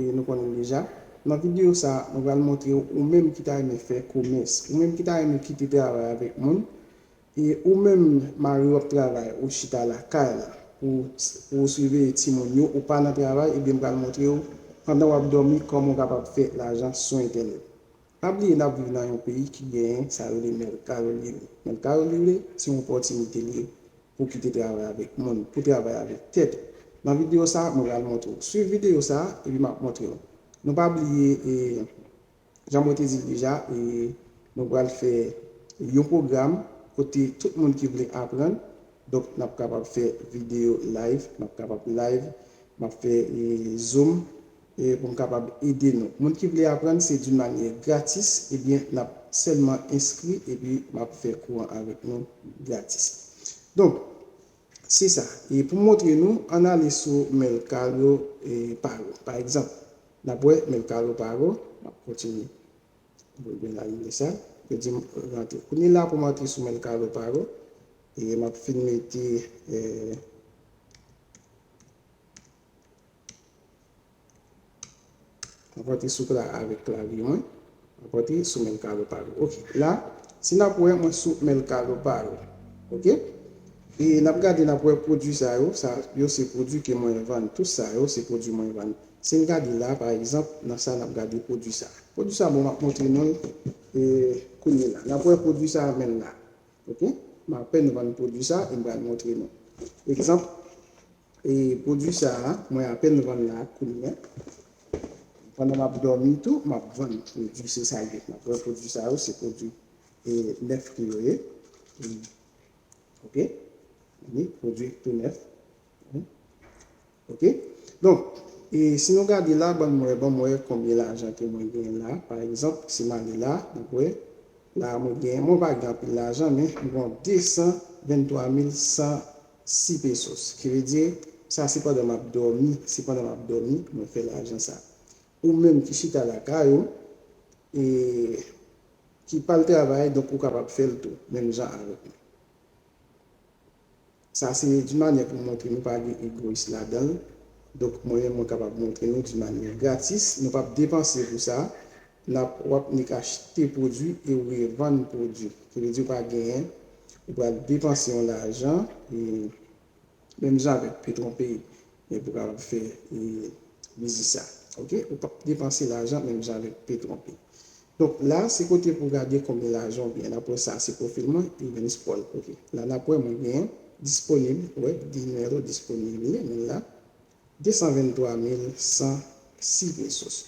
E nou konnen deja. Nan videyo sa, mwen pral montre w ou menm ki ta renmen fè komès, ou menm ki ta renmen kite travay avèk moun, e ou menm mariw ap travay ou chita lakay la pou pou ou siveye timoun yo, ou pa nan travay, ebyen m pral montre w pandan wap dòmi kòman w kapab fè lajan sou entènèt. Pa bliye nap viv nan yon peyi ki genyen sa yo rele mercado libre. Mercado libre se yon opòtinite li ye pou kite travay avèk moun, pou travay avèk tèt ou. Nan video sa mwen pral montre w. Swiv video sa epi map montre w. Nou pa bliye e jan mwen te di l deja e nou pral fè yon pwogram kote tout moun ki vle aprann donk nap kapab fè video live, nap kapab live, map fè zoom e pou m kapab ede nou. Moun ki vle aprann se d'une manière gratis ebyen nap sèlman enskri epi map fè kou an avèk nou gratis. Donk se sa e pou m montre nou ann ale sou Mercado Pago pa egzanp nap wè Mercado Pago map kontinye pou mwen anile sa yo di m rantre kounye la pou m antre sou Mercado Pago e map fin mete. Mwen pote souk la avèk klavye mwen. Mwen pote sou menl kalo pa yo. Ok. La, si nap wè mwen sou menl kalo pa yo. Ok. E nap gade nap wè pwodui sa yo. Sa yo se pwodui ke mwen vann. Tout sa yo se pwodui mwen vann. Si n gade la pa egzanp, nan sa nap gade pwodui sa. Pwodui sa bon map montre nou l e kounye la. Nap wè pwodui sa a menl la. Ok. M apèn vann pwodui sa e m pral montre nou. Egzanp, E pwodwi sa a mwen apèn vann la kounya pandan map dòmi tou map vann pwodwi se sa yo map vann pwodwi sa yo se pwodwi e nèf ki yo ye ok ni pwodwi tou nèf ok donk e si nou gade la banm wè banm wè konbyen lajan ke mwen gen la pa egzanp si male la nap wè la mwen gen mwen pa gen anpil lajan men mwen gon 223100 6 pesos ki vle di sa se pandan map domi se pandan map domi mwen fè lajan sa ou menm ki chita lakay ou e ki pal travay donk ou kapab fèl tou menm jan avèk mwen sa se di manyè pou montre nou pa gen egoyis ladanl donk mwen menm mwen kapab montre nou di manyè gratis nou pap depanse pou sa Nap wap nik achte pwodwi e ou revann pwodwi se vle di ou pa genyen ou pral depanse yon lajan e menm jan avèk petron pay men pou kapab fè e biznis sa ok ou pap depanse lajan menm jan avèk petron pay donk la se kote pou gade konbyen lajan ou genyen nap wè sa se pwofil mwen evens paul ok la nap wè mwen genyen disponib wè di nimewo disponib li mwen la 223106 pesos.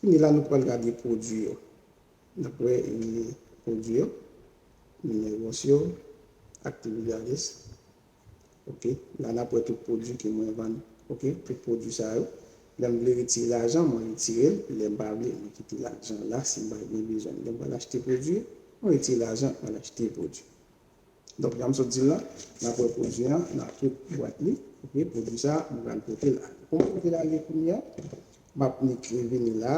Kounye la nou pwal gade pwodwi yo. Nap wè pwodwi yo, numeros yo, actividades. Ok, la nap wè tout pwodwi ke mwen vann. Ok, tout pwodwi sa yo. Lèm vle retire lajan, mwen retirel. Lèm pa vle, mwen kite lajan la. Sim pa gen bezwen, lèm pwal achte pwodwi, mwen retire lajan, mwen achte pwodwi. Donk janm sot dil la nap wè pwodwi an nap tout bwat li ok pwodwi sa mwen pral potel ale pou mwen potel ale kounya map nik vini la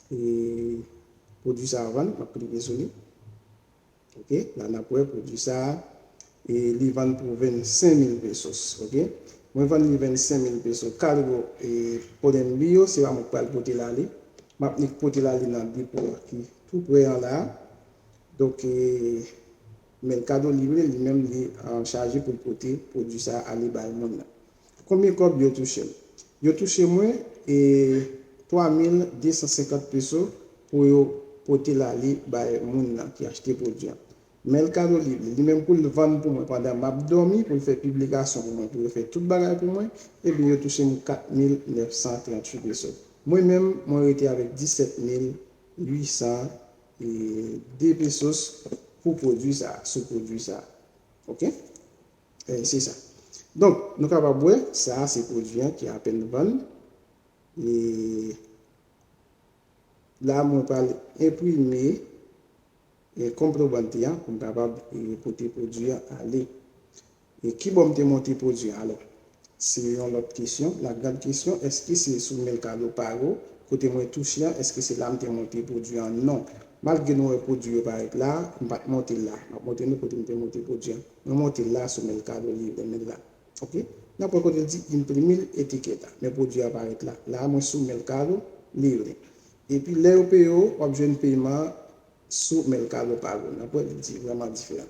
e pwodwi sa vann map klike sou li ok la nap wè pwodwi sa e li vann pou 25 mil pesos ok mwen vann li 25 mil peso kalgo e podenbi yo se pa mwen ki pral potel ale map nik potel ale nan depo a ki tou prè an la. Donk men kado li vle li menm li an chaje poul pote pwodwi sa ale bay moun nan. Konbyen kòb yo touche l? Yo touche mwen 3250 peso pou yo pote l ale bay moun nan ki achte pwodwi an. Men kado li vle li menm pou l vann pou mwen pandan map dòmi pou l fè piblikasyon pou mwen pou yo fè tout bagay pou mwen ebyen yo touche m 4938 peso. Mwen menm mwen rete avèk 17800 2 pesos pou pwodwi sa a, sou pwodwi sa a. Ok? Se sa. Donk, nou kapab wè, sa a se pwodwi an ki apèn vann. E la mwen pral enprime konprobante an pou m kapab pote pwodwi an ale. E kibò m te monte pwodui a alò? Se yon lòt kesyon. La grande question, èske se sou Mercado Pago, kote mwen touche an, èske se la m te monte pwodui an? Non. Malgre nou wè pwodui yo parèt la a, m pa t monte l la. M ap montre nou kote m te monte pwodui an. Mwen monte l la sou Mercado Libre men la. Ok. Nan pwen kote l di Imprimir etiqueta. Men pwodui a parèt la. La a mwen sou Mercado Libre. Epi lè yo peye w, w ap jwenn peyiman an sou Mercado Pago. Nan pwen li di vrèman diferan.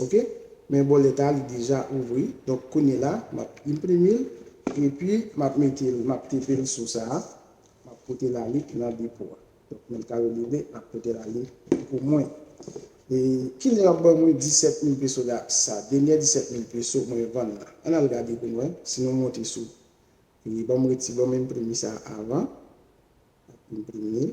Ok men bolet a li deja ouvri donk kounye la map inprime l epi map mete l map tepe l sou sa map pote l ale nan depo a donk mèt Caroline ap pote l ale pou mwen e kilè yap ban mwen 17 mil peso la sa denyè 17 mil peso mwen vann nan ann al gade pou nou wè si nou monte sou e banm reti banm inprime sa avan map inprime l.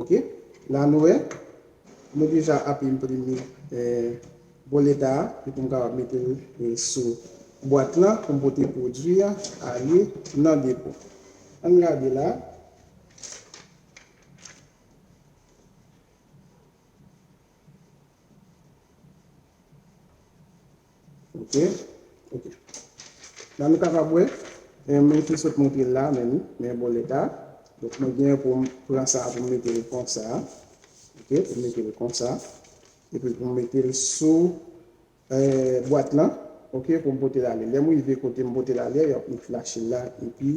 Ok la nou wè nou deja ap enprime boleta a epi m kapab mete l sou bwat lan pou m pote pwodui a ale nan depo. An n gade la. Ok, ok. La nou kapab wè, mwen te sot montre la menm, men bon leta. Donk mwen gen pou m pran sa pou m mete l konsa. Ok, pou m mete l konsa. Epi pou m mete l sou euh bwat lan. Ok, pou m pote l ale. Lè m rive kote m pote l ale, y ap m flash l la epi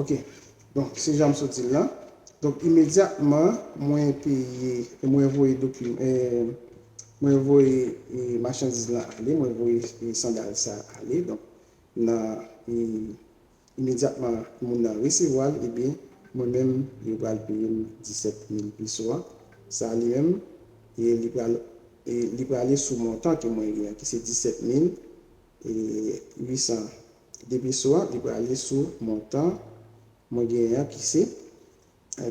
Ok, donk se jan m sot di l lan. Donk imedyatman mwen peye, mwen voye dokiman, eee, mwen voye machandiz lan ale, mwen voye sandal sa ale, donk nan, eee. Imedyatman moun nan resevwa l, ebyen, mwen menm, yo pral peye m disèt mil peso a, sa li menm, e li pral e li prale sou montan ke mwen gen an, ki se disèt mil e uitsan de peso a, li prale sou montan mwen gen an, ki se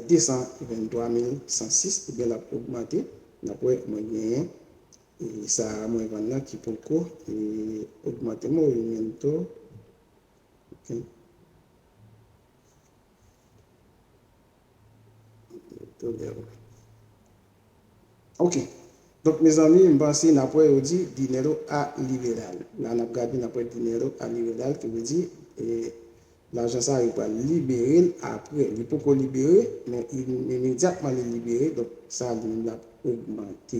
desan venntwa mil san sis, ebyen l ap ogmante, n ap wè mwen genyen e sa mwen vann nan ki poko e ogmante, morimento. Ok Donk mezanmi m panse n ap wè yo di dinero a liberal la n ap gade n ap wè dinero a liberal ki vle di lajan sa yo pral libere l aprè li poko libere men imedyatman li libere donk sa li menm l ap ogmante.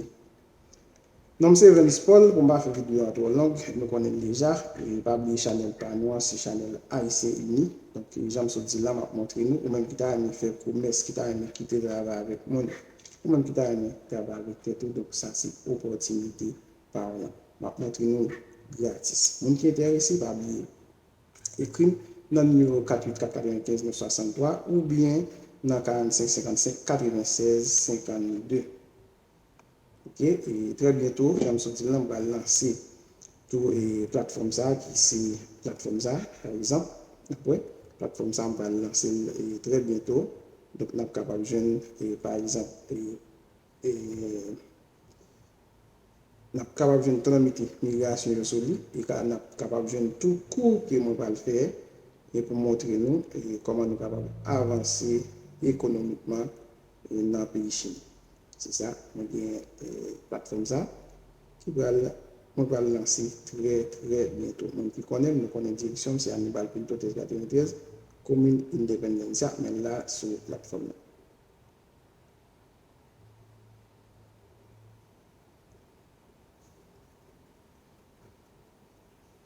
Nom se Verlis Paul pou m pa fè video a twò long nou konnen l deja e pa bliye chanèl pa nou an se chanèl Ayisyen Ini donk jan m sot di la m ap montre nou ou menm ki ta renmen fè komès ki ta renmen kite travay avèk mwen ou menm ki ta renmen travay avèk tèt ou donk sa se opòtinite pa w lan m ap montre nou l gratis moun ki entèrese pa bliye ekri m nan nimewo 4849593 oubyen nan 45 55 96 52. Ok e trè byento janm soti lan m pral lanse tou e platfòm sa ki se platfòm sa pa egzanp nap wè platfòm sa m pral lanse l e trè byento donk nap kapab jwenn e pa egzanp e e nap kapab jwenn tranmite migrasyon yo sou li e ka nap kapab jwenn tou kou ke mwen pral fè e pou montre nou e kòman nou kapab avanse ekonomikman nan peyi Chin. Se sa, mwen gen platfòm sa ki pral, mwen pral lanse trè trè byento. Moun ki konnen m, nou konnen direksyon m se Anibal Pinto 1393, komin Independencia, men la sou platfòm nan.